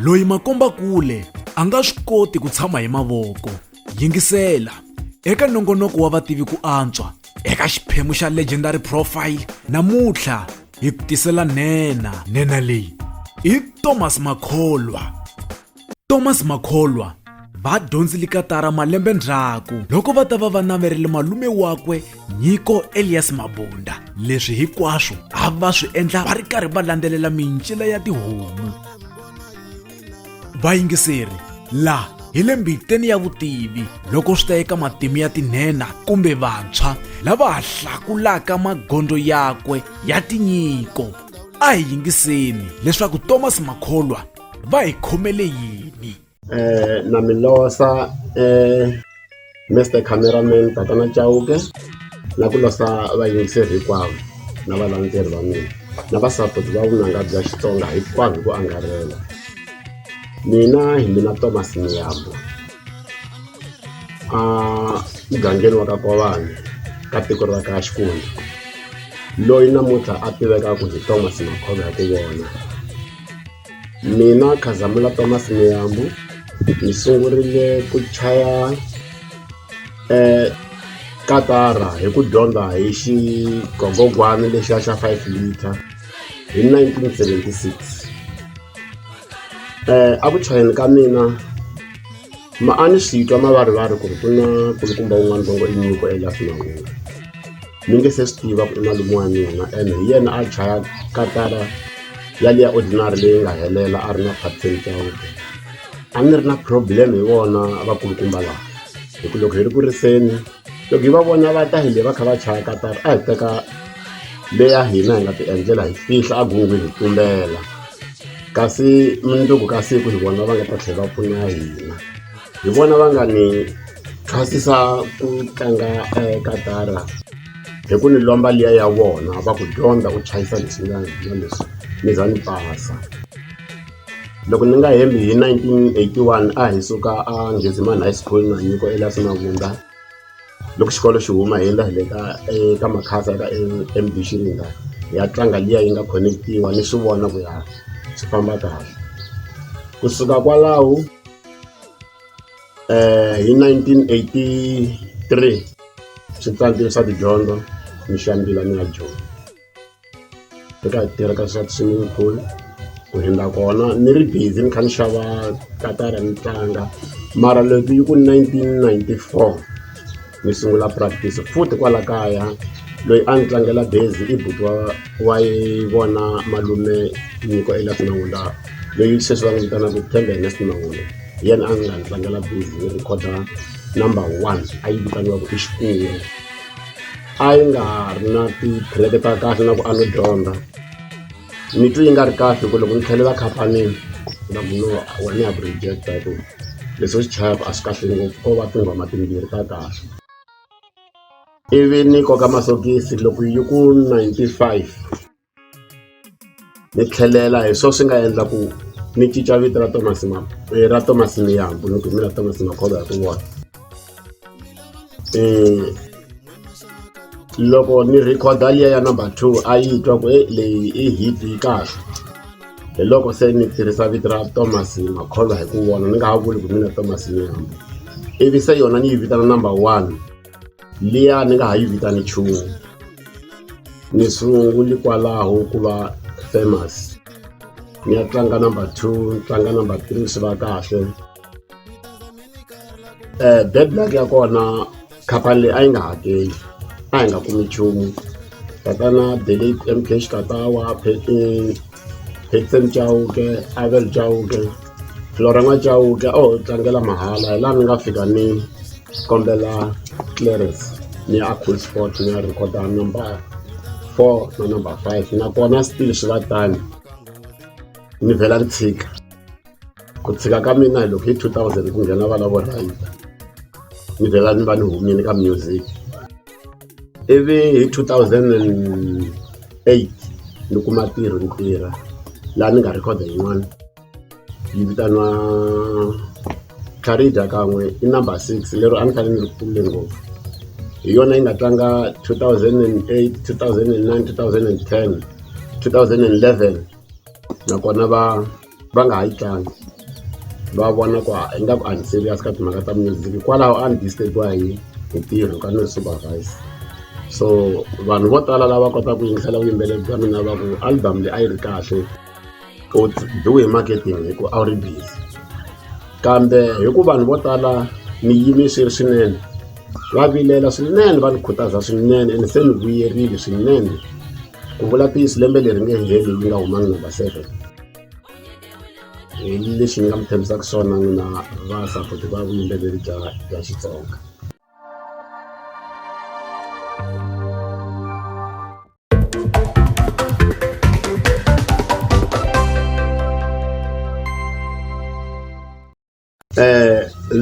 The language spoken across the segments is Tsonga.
loyi makombakule a nga swi koti ku tshama hi mavoko yingisela eka nongonoko wa vativi ku antswa eka xiphemu xa legendary profile namuntlha hi ku tisela nena nena leyi i thomas makholwa thomas makholwa va dyondzile katara malembe ndzhaku loko va ta va va naverile malume wakwe nyiko elias mabunda leswi hinkwaswo a va swi endla va ri karhi va landzelela mincila ya tihomu vayingiseri laha hi le mbiteni ya vutivi loko swi ta eka matimu ya tinhenha kumbe vantshwa lava ha hlakulaka magondzo yakwe ya tinyiko a hi yingiseni leswaku thomas makholwa va hi khomele yini na mi lovola Mister Camera Man tatana Chauke na ku lovola vayingiseri hinkwavo na valendzeleri va mina na va support va vunanga bya Xitsonga hinkwabyo hi ku angarhela mina hi mina Thomas Miyambo a mugangeni wa ka Nkovani ka tiko ra ka Xikwembu loyi namuntlha a tivekaka hi Thomas Makhoba hi ku vona. Mina Khazamula Thomas Muyambu ni sungurile ku chaya katara hi ku dyondza hi xigogogwana lexiya xa five litre hi nineteen seventy six eku chayeni ka mina. Maani sitwa mavarivari ku ri ku na kulukumba wun'wana longo i nyiko elafinangula mi nge se swi tiva ku i malume wa mina ene hi yena a dlaya katara yaliya ordinary leyi nga helela a ri na captain cowde a ni ri na problem hi vona vakulukumba laha hi ku loko hi ri ku riseni loko hi va vona va ta hi le va kha va chaya katara a hi teka leya hina hi nga ti endlela hi fihla a gungwi hi tumbela kasi mundzuku ka siku hi vona va nga ta tlhela va pfuna hina hi vona va nga ni thwasisa ku tlanga eh, katara hi ku ni lomba liya ya vona va ku dyondza ku chayisa leswinani na leswi ni za ni pasa Loko ni nga hembi hi 1981 a hi suka a Ngheziman High School na nyiko Elias Mavundza loko xikolo xi huma hi endla hi le ka eka Makhasa eka M_B Xiringa hi ya tlanga liya yi nga connect-iwa ni swi vona ku ya swi famba kahle kusuka kwalaho hi 1983 swi tsandze swa tidyondzo ni xambila ni ya joni. Ni ka tirha ka swa swimming pool ku hundza kona ni ri busy ni kha ni xava katara ni tlanga mara loko yi ku nineteen ninety four ni sungula practice futhi kwala kaya loyi a ni tlangela bazi i buti wa wa yi vona malume nyiko Elias Mawula loyi sweswi va n'wi vitanaka Themba Ernest Mawula hi yena a nga ni tlangela bazi ni rhikhoda number one a yi vitaniwaka i Xikwembu. a yi nga ha ri na ti-track-e ta kahle na ku a no dyondza ni twi yi nga ri kahle ku loko ni tlhelela khampanini ku na munhu loyi wa ni ya ku reject-a hi ku leswi u swi chayaka a swi kahle ngopfu ko va tinghoma timbirhi ta kahle ivi ni koka masokisi loko yi ku ninety five. Ni tlhelela hi swona swi nga endla ku ni cinca vito ra Thomas ra Thomas Miyambo ni ku mina Thomas Makhoba hi ku vona loko ni record-a liya ya number two a yi twa ku e leyi i hit yi kahle hi loko se ni tirhisa vito ra Thomas Makholwa hi ku vona ni nga ha vuli ku mina Thomas Miyambo ivi se yona ni yi vitana number one. Liya ni nga ha yi vitani nchumu ni sunguli kwalaho ku va famous ni ya tlanga number two ni tlanga number three swi va kahle bad luck ya kona khampani leyi a yi nga hakeli a hi nga kumi nchumu tatana Betty M_Cash Katawa Betty. Hector Chauke, Abel Chauke, Loranga Chauke a ho tlangela mahala hi laha ni nga fika ni kombela clearance ni ya cool sport ni ya recorda number four na number five nakona still swi va tano ni vhela ni tshika. ku tshika ka mina hi loko hi 2000 ku nghena vana vo rhayita ni vhela ni va ni humile ka music ivi hi 2008 ni kuma tirho ni tirha laha ni nga rhekhoda yin'wana yi vitaniwa carida kan'we i number six lero a ni fanele ni ri kule ngopfu hi yona yi nga tlanga 2008 2009 2010 2011 nakona va va nga ha yi tlangi va vona ku a ingaku a ni serious ka timhaka ta music hikwalaho a ni disturb-iwa hi hi ntirho ka ni ri supervise so vanhu vo tala lava kotaka ku yingisela vuyimbeleri bya mina va ku album leyi a yi ri kahle u biwe hi marketing hi ku a wu ri busy kambe hi ku vanhu vo tala ni yime swi ri swinene va vilela swinene va ni khutaza swinene ene se ni vuyerile swinene ku vula ntiyiso lembe leri nge heli yi nga humangi number seven hi lexi ni nga mi tshembisaka swona n'wina va sapoti va vuyimbeleri bya bya xitsonga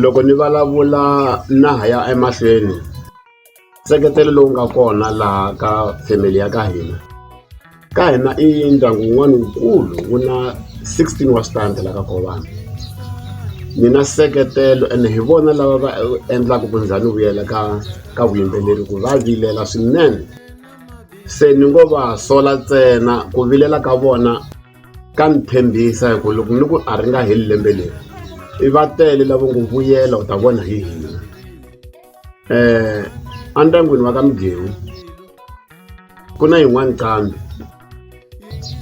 Loko ni vulavula na ha ya emahlweni nseketelo lowu nga kona laha ka family ya ka hina ka hina i ndyangu wun'wana wukulu wu na sixteen wa switandi la ka Khowani ni na nseketelo ene hi vona lava va endlaka ku ndza ni vuyela ka ka vuyimbeleri ku va vilela swinene se ni ngo va sola ntsena ku vilela ka vona. Ka ni tshembisa hi ku loko ni ku a ri nga heli lembe leri i va tele lavo ngo vuyela u ta vona hi hina um endyangwini wa ka migewu ku na yin'wani qambi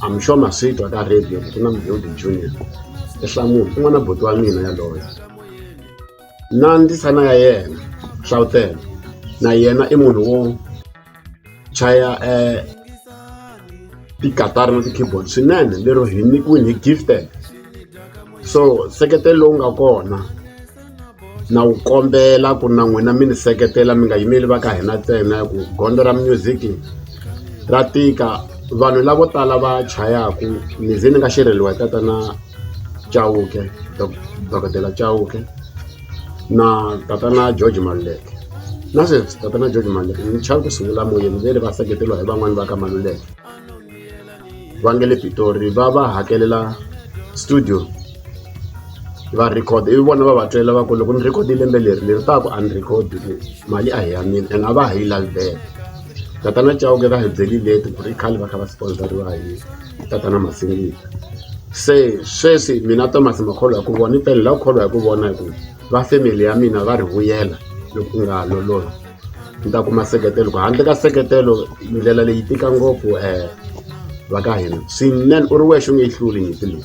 I'm sure ma swi twa ka radio ku na Mugodi Junior i hlamula i n'wana buti wa mina yaloye na ndzisana ya yena Hlawutela na yena i munhu wo chaya tikatara na ti-keyboard swinene lero hi nyikiwile hi gifted so nseketelo lowu nga kona na wu kombela ku na n'wina mi ni seketela mi nga yimeli va ka hina ntsena ku gondzo ra music ra tika vanhu lavo tala va chayaku ni ze ni nga xerheliwa hi tatana chauke dokodela chauke na tatana George Maluleke na sweswi tatana George Maluleke ni chava ku sungula moyeni ve le va seketeriwa hi van'wani va ka Maluleke va nge le Pitori va va hakelela studio va record ivi vona va va tlela va ku loko ni record lembe leri leri taku a ni record mali a hi ya mina ene a va ha yi lavi back. Tatana Chauke va hi byeli leti ku ri khale va kha va sponsoriwa hi tatana Masingita se sweswi mina Thomas Makholwa hi ku vona i pele la ku kholwa hi ku vona hi ku va family ya mina va ri vuyela loko u nga ha lolohi ni ta kuma seketelo ku handle ka seketelo ndlela leyi tika ngopfu um va ka hina swinene u ri wexe u nge yi hluli nyimpi leyi